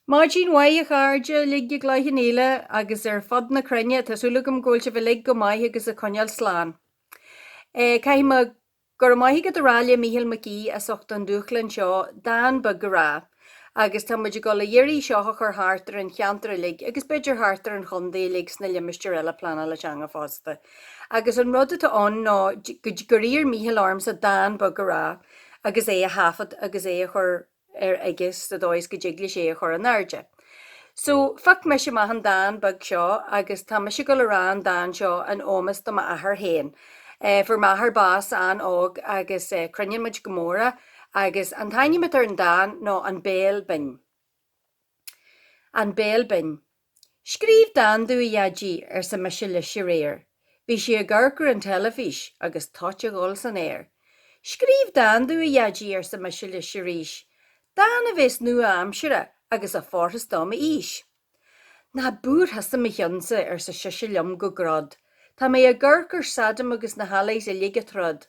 Maidin mhaith, a chairde uilig, i gCloich Cheann Fhaola agus ar fud na cruinne, tá súil agam go bhfuil sibh uilig go maith agus ag coinneáil slán. Caithfidh mé go raibh maith agat a rá le Mícheál Mac Aoidh as ucht an dúshláin seo dán beag a rá agus tá muid ag dul a iarraidh seo a chur thart ar an cheantar uilig agus b'fhéidir thart ar an chontae uilig sna limistéir eile pleanála teanga fosta. Agus an rud atá ann ná gur iarr Mícheál ormsa dán beag a rá agus é a thaifead agus é a chur ar air aige sa dóigh is go dtig leis é a chur in airde. So, phioc mise amach an dán beag seo agus tá mise ag dul a rá an dán seo in ómos do m'athair féin. Fuair m'athair bás an-óg agus cronaíonn muid go mór é agus an t-ainm atá ar an dán ná An Béal Binn. An Béal Binn. Scríobh dán domh, a Dhaidí, arsa mise leis aréir. Bhí sé ag amharc ar an teilifís agus toit ag dul san aer. Scríobh dán domh, a Dhaidí, arsa mise leis arís, dán a bheas nua-aimseartha agus a fhóirfeas do m'aois. Ná buair thusa mo chionnsa, arsa seisean liom go grod, tá mé ag amharc ar Saddam agus na hAllies uilig ag troid.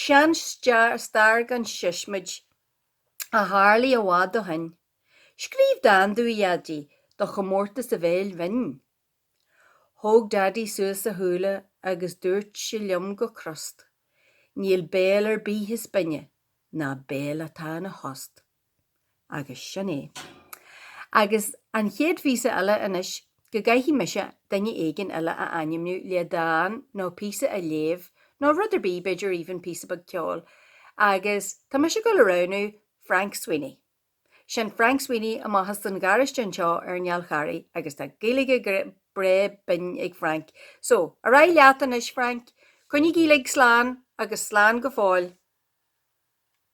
Seanstair gan siosmaid, a tharlaigh i bhfad ó shin. Scríobh dán domh, a Dhaidí, do chomórtas an Bhéil Bhinn. Thóg Daidí suas a shúile agus dúirt sé liom go crost, Níl béal ar bith is binne ná béal atá ina thost. Agus sin é. Agus an chéad phíosa eile anois, go gcaithfidh mise duine éigin eile a ainmniú le dán nó píosa a léamh, nó rud ar bith, b'fhéidir even píosa beag ceoil. Agus tá mise ag dul a roghnú Frank Sweeney. Sin Frank Sweeney amach as an gharáiste anseo ar an Fhál Charraigh, agus tá Gaeilge breá binn ag Frank. So, ar aghaidh leat anois, Frank. Coinnigí uilig slán, agus slán go fóill.